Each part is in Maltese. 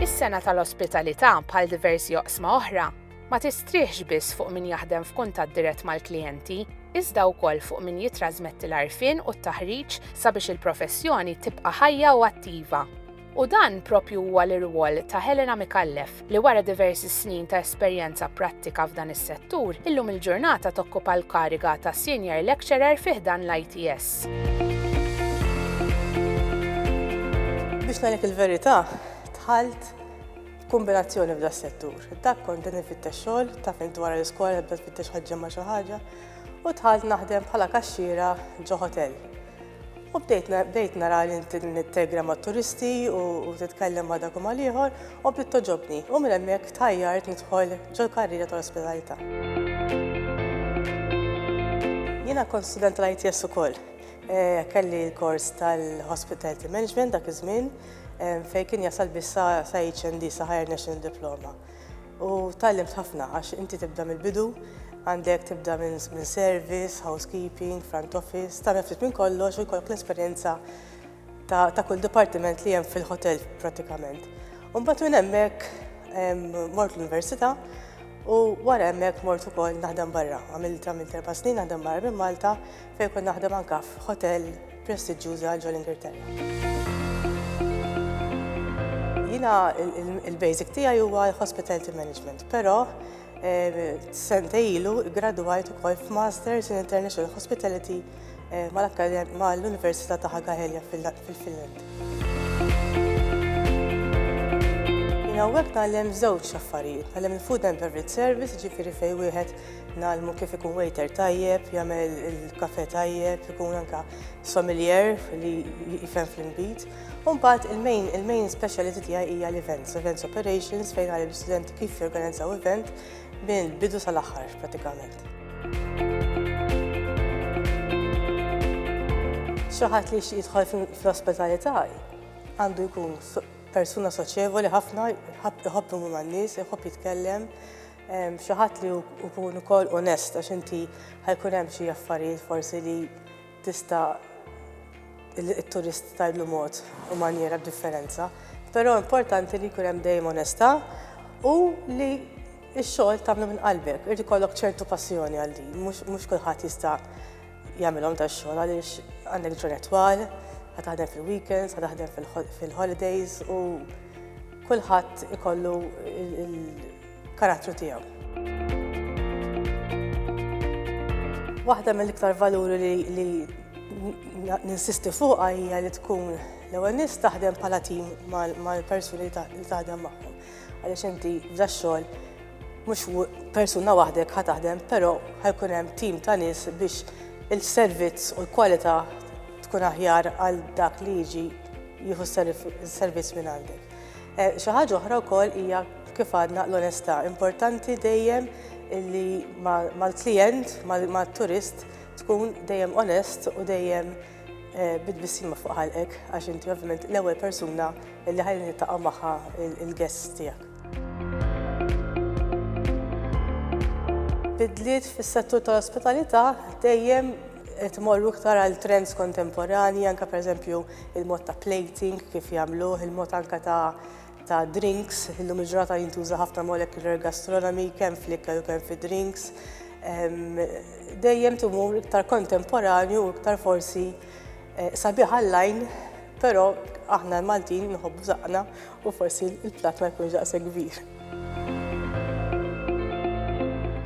Is-sena tal-ospitalità bħal diversi oqsma oħra ma tistrieħx biss fuq min jaħdem f'kuntatt dirett mal-klijenti, iżda wkoll fuq min jitrasmetti l-arfin u t-taħriġ sabiex il-professjoni tibqa' ħajja u attiva. U dan proprju huwa l-irwol ta' Helena Micallef li wara diversi snin ta' esperjenza prattika f'dan is-settur, illum il-ġurnata tokkupa l-kariga ta' Senior Lecturer fi ħdan l-ITS. Biex ngħidlek il-verità, dħalt b'kumbinazzjoni f'das-settur. Dak kont qed infittex xogħol, taf hekk dwar l-iskola nibda nfittex ħaġġa ma' xi ħaġa, u dħalt naħdem bħala kaxxiera ġo hotel. U bdejt na- bdejt nara li int nittegra ma' turisti u u titkellem ma' dak u ma' l-ieħor u bdiet togħġobni. U minn hemmhekk tħajjart nidħol ġol-karriera tal-ospitalità. Jiena kont student tal-ITS ukoll. Eh, Kelli l-kors tal-Hospitality Management dak iż-żmien, eh, fejn kien jasal biss sa sa HND, sa Higher National Diploma. U tgħallimt ħafna għax inti tibda mill-bidu, għandek tibda minn service, housekeeping, front office, tagħmel ftit minn kollox u jkollok l-esperjenza ta' kull dipartiment li hemm fil-ħotel prattikament. U mbagħad minn hemmhekk mort l-università u wara hemmhekk mort ukoll naħdem barra. Għamilt għamilt erba' snin naħdem barra minn Malta fejn kont naħdem anke f'ħotell prestiġġjuża ġol Ingilterra. Jiena il-basic tiegħi huwa hospitality management, però eh, sente ilu gradwajt ukoll f'Masters in International Hospitality eh, mal-Università ta' Hagahelja fil-Finland. Jiena hawnhekk tgħallem żewġ affarijiet, tgħallem il-food and beverage service, ġifieri fejn wieħed Ngħallmu kif ikun waiter tajjeb, jagħmel il-kafe tajjeb, ikun anka sommelier li jifhem fl-inbid. U mbagħad il-main il-main speciality tiegħi hija l-events, events operations fejn għal l-istudenti kif jorganizzaw event minn bidu sal-aħħar pratikament. Xi ħadd li jidħol fl-ospitalità għandu jkun persuna soċjevoli ħafna, jħobb imur man-nies, jħobb jitkellem, Xi ħadd li jkun ukoll onest għax inti ħajkun hemm xi affarijiet forsi li tista' it-turist tgħidlu mod u manjera b'differenza. Però importanti li jkun hemm dejjem onestà u li x-xogħol tagħmlu minn qalbek. Irid ikollok ċertu passjoni għal din, mhux kulħadd jista' jagħmilhom tax-xogħol għaliex għandek ġurnat twal, ħa taħdem fil-weekends, ħa taħdem fil-holidays u kulħadd ikollu karattru tiegħu. Waħda mill-iktar valuri li, li ninsisti fuqha hija li tkun l-ewwel nies taħdem bħala tim mal-persuni li taħdem magħhom. Għaliex inti f'da xogħol mhux persuna waħdek ħa taħdem, però ħajkun hemm tim ta' nies biex il-servizz u l-kwalità tkun aħjar għal dak li jiġi jieħu s-servizz minn għandek. Xi ħaġa oħra wkoll hija kif għadna l-onestà. Importanti dejjem li mal-klijent, mat-turist tkun dejjem onest u dejjem eh, bid-bissima fuq ħalqek għax inti ovvjament l-ewwel persuna li ħajli nittaqa' magħha il-guest tiegħek. Bidliet fis-settur tal-ospitalità dejjem qed imorru iktar għal trends kontemporanji, anke pereżempju il-mod ta' plating kif jagħmluh, il-mod anke ta' ta' drinks, illum il-ġurnata jintuża ħafna molecular gastronomy, kemm fl-ikel u kemm fi drinks. Dejjem timur iktar kontemporanju u iktar forsi eh, sabiħ għall-lajn, però aħna l-Maltin nħobbu zaqna U forsi l-platt ma jkunx daqshekk kbir.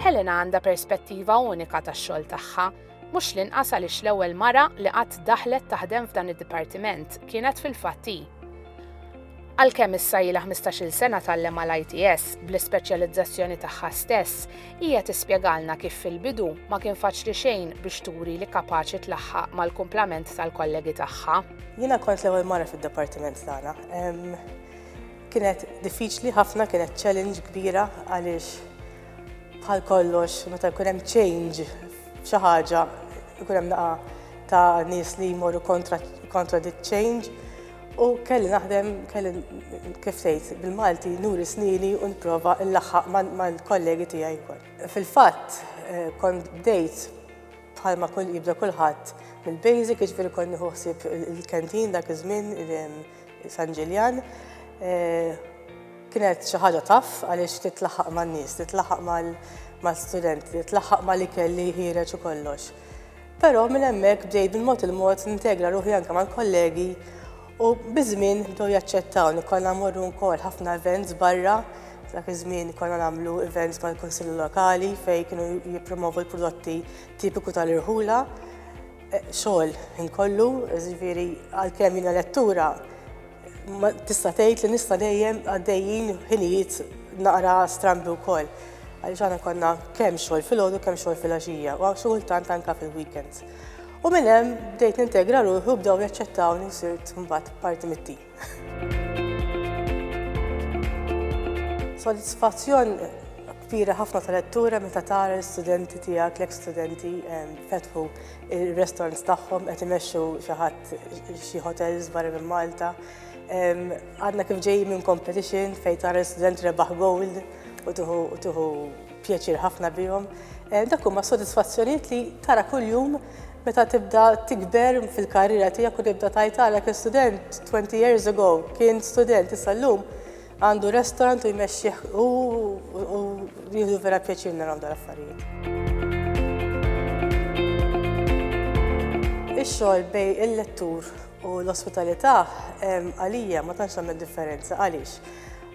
Helena għandha perspettiva unika tax-xogħol tagħha, mhux l-inqas għaliex l-ewwel mara li qatt daħlet taħdem f'dan id-dipartiment kienet fil-fatt hi. Għalkemm issa ilha ħmistax-il sena tgħallem għal ITS, bl-ispeċjalizzazzjoni tagħha stess, Hija tispjegalna kif fil-bidu ma kien faċli xejn biex turi li kapaċi tlaħħaq mal-kumplament tal-kollegi tagħha. Jiena kont l-ewwel mara fid-dipartiment tagħna. Kienet diffiċli ħafna, kienet challenge kbira għaliex bħal kollox meta jkun hemm change f'xi ħaġa jkun hemm naqa' ta' nies li jmorru kontra dik change U kelli naħdem, kelli kif tgħid bil-Malti nuri snini u nipprova nlaħħaq mal-kollegi tiegħi wkoll. Fil-fatt eh, kont bdejt bħalma kull jibda kulħadd mill-basic, jiġifieri kont nieħu ħsieb il-kantin dak iż-żmien San Ġiljan. Eh, kienet xi ħaġa taf għaliex titlaħaq man-nies, titlaħaq mal-studenti, titlaħaq mal-ikel li jħireġ u kollox. Però minn hemmhekk bdejt bil-mod il-mod nintegra ruħi anke mal-kollegi u biż-żmien bdew jaċċettawni. Konna mmorru wkoll ħafna events barra, dak iż-żmien konna nagħmlu events mal-Kunsilli Lokali fejn kienu jippromovu l-prodotti tipiku tal-irħula. Xogħol ħin kollu, jiġifieri għalkemm jiena lettura, Tista' tgħid li nista' dejjem għaddejjin ħinijiet naqra strambi wkoll. Għaliex aħna konna kemm xogħol filgħodu kemm xogħol filgħaxija u xi kultant anke fil-weekends. U minn hemm bdejt nintegra ruħi u bdew jaċċettawni sirt mbagħad parti mit-tim. Sodisfazzjon kbira ħafna ta' lettura meta tara l-istudenti tiegħek, l-eks studenti fetħu Ir-restaurants tagħhom qed imexxu xi ħadd xi hotels barra minn Malta. Għadna kif ġejjin minn competition fejn tara l-student rebaħ gold u tuħu pjaċir ħafna bihom. Eh, dak huma sodisfazzjonijiet li tara kuljum meta tibda tikber fil-karriera tiegħek u tibda tajtalek student 20 years ago kien student issa llum Għandu restaurant u jmexxih u jieħdu vera pjaċir narawhom dal-affarijiet. Ix-xogħol bej il-lettur u l-ospitalità għalija ma tantx tagħmel differenza għaliex.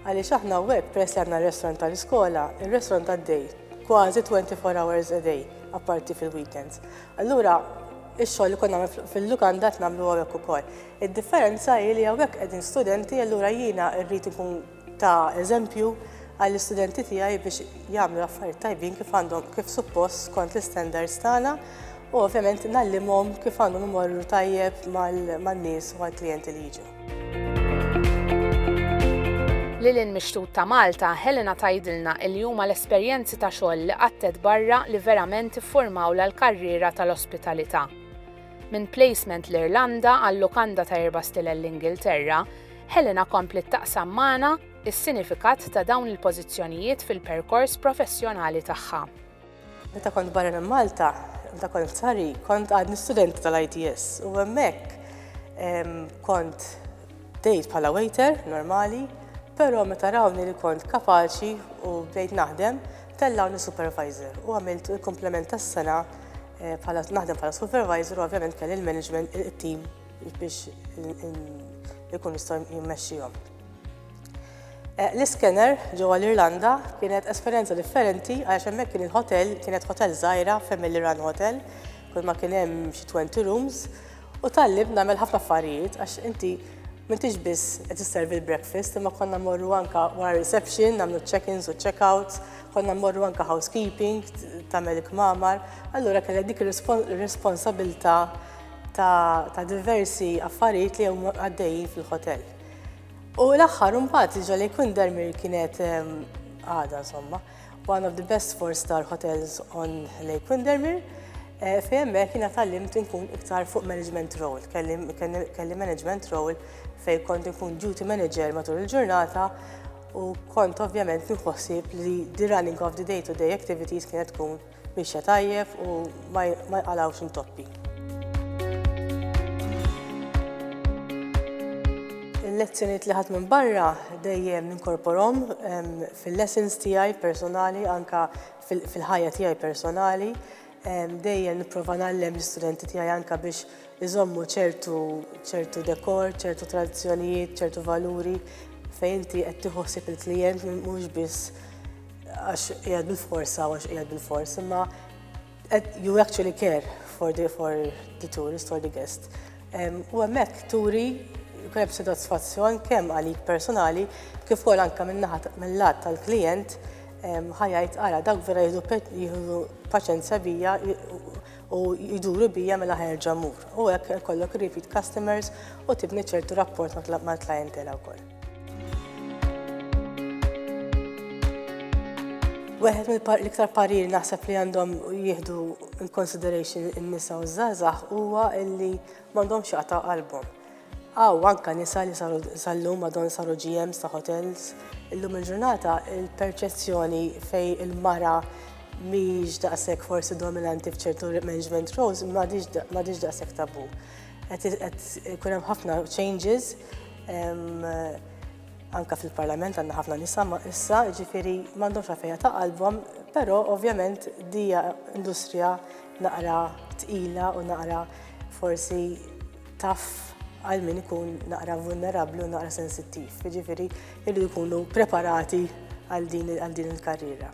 Għaliex aħna web peress li għandna r-restaurant tal-iskola, ir-restaurant għaddej kważi 24 hours a day apparti fil-weekends. Allura, ix-xogħol li kont nagħmel fil-lukanda qed nagħmlu hawnhekk ukoll. Id-differenza hi li hawnhekk qegħdin studenti allura jiena rrid inkun ta' eżempju għall-istudenti tiegħi biex jagħmlu affarijiet tajbin kif għandhom kif suppost skont l-istandards tagħna u ovvjament nallimhom kif għandhom imorru tajjeb man-nies u għall-klijenti li jiġu. Lil hinn mix-xtut ta' Malta, Helena tgħidilna li huma l-esperjenzi ta' xogħol li qattet barra li verament iffurmawlha l-karriera tal-ospitalità. Minn placement l-Irlanda għal lukanda ta' erba' stilel l-Ingilterra, Helena kompliet taqsam magħna s-sinifikat ta' dawn il-pożizzjonijiet fil-perkors professjonali tagħha. Meta kont barra minn Malta, meta kont f'Sari, kont għadni studenti tal-ITS u hemmhekk kont dejt bħala waiter normali, però meta rawni li kont kapaċi u bdejt naħdem, tellawni supervisor u għamilt il-komplement tas-sena eh, bħala naħdem bħala supervisor u ovvjament kelli l-management il-team biex ikun jistgħu jimmexxihom. L-iskener ġewwa l-Irlanda kienet esperjenza differenti għax hemmhekk kien il-hotel kienet hotel żgħira family run hotel, kull ma kien hemm xi 20 rooms u tallimt nagħmel ħafna affarijiet għax inti m'intix biss qed isservi l-breakfast imma konna mmorru anke wara reception nagħmlu check-ins u check-outs, konna mmorru anke housekeeping tagħmel il-kmamar, allura kellek dik ir-responsabilità ta' diversi affarijiet li huma għaddejjin fil-hotel. U l-aħħar mbagħad iġol jkun Dermir kienet għada insomma, one of the best four star hotels on Lake Windermere. Eh, fejn hemmhekk jiena tallimt inkun iktar fuq management role, kelli management role fejn kont inkun duty manager matul il-ġurnata u kont ovvjament nħossib li the running of the day-to-day activities kienet tkun Miexja tajjeb u ma jqalgħux intoppi. Il-lezzjonijiet li ħadt minn barra dejjem ninkorporhom fil-lessons tiegħi personali anke fil-ħajja tiegħi personali. Dejjem nipprova nagħllem l-istudenti tiegħi anke biex iżommu ċertu ċertu dekor, ċertu tradizzjonijiet, ċertu valuri fejn inti qed tieħu ħsieb il-klijent mhux biss għax qiegħed bil-forsa għax qiegħed bil-fors, imma you actually care for the, for the tourist, for the guest. U hemmhekk turi kreb soddisfazzjon kemm għalik personali kif ukoll anke mill-lat tal-klijent ħajajt ara dak vera jieħdu paċenzja bija u jduru bija mela ħerġa mur. U hekk kollok repeat customers u tibni ċertu rapport mal-klientela wkoll. Weħed mill-iktar parir naħseb li għandhom jieħdu in consideration in-nisa u żgħażagħ huwa illi m'għandhomx jaqta' qalbhom. Aw anka nisa li sal-lum madon saru GMs ta' hotels, illum il-ġurnata il-perċezzjoni fej il-mara mhix daqshekk forsi dominanti f'ċertu management roles m'għadix daqshekk tabu. Qed ikun hemm ħafna changes anka fil-Parlament għandna ħafna nisa issa, ġifiri m'għandhomx għafeja ta' qalbhom, però ovvjament dija industrija naqra tqila u naqra forsi taf għal min ikun naqra vulnerabli u naqra sensittiv. Ġifiri, Irridu jkunu preparati għal din il-karriera.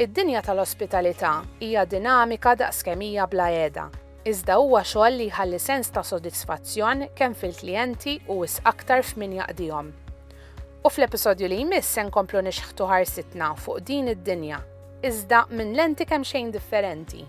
Id-dinja tal-ospitalità hija dinamika daqs kemm hija bla għeda, iżda huwa xogħol li jħalli sens ta' sodisfazzjon kemm fil-klijenti u wisq aktar f'min jaqdihom. U fl-episodju li jmiss se nkomplu nixħtu ħarsitna fuq din id-dinja, iżda minn lenti kemxejn differenti.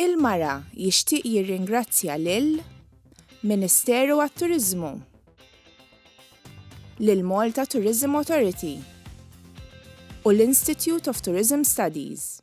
Il-Mara jixtieq jirringrazzja lil Ministeru għat-Turiżmu, lill-Malta Tourism Authority u l-Institute of Tourism Studies.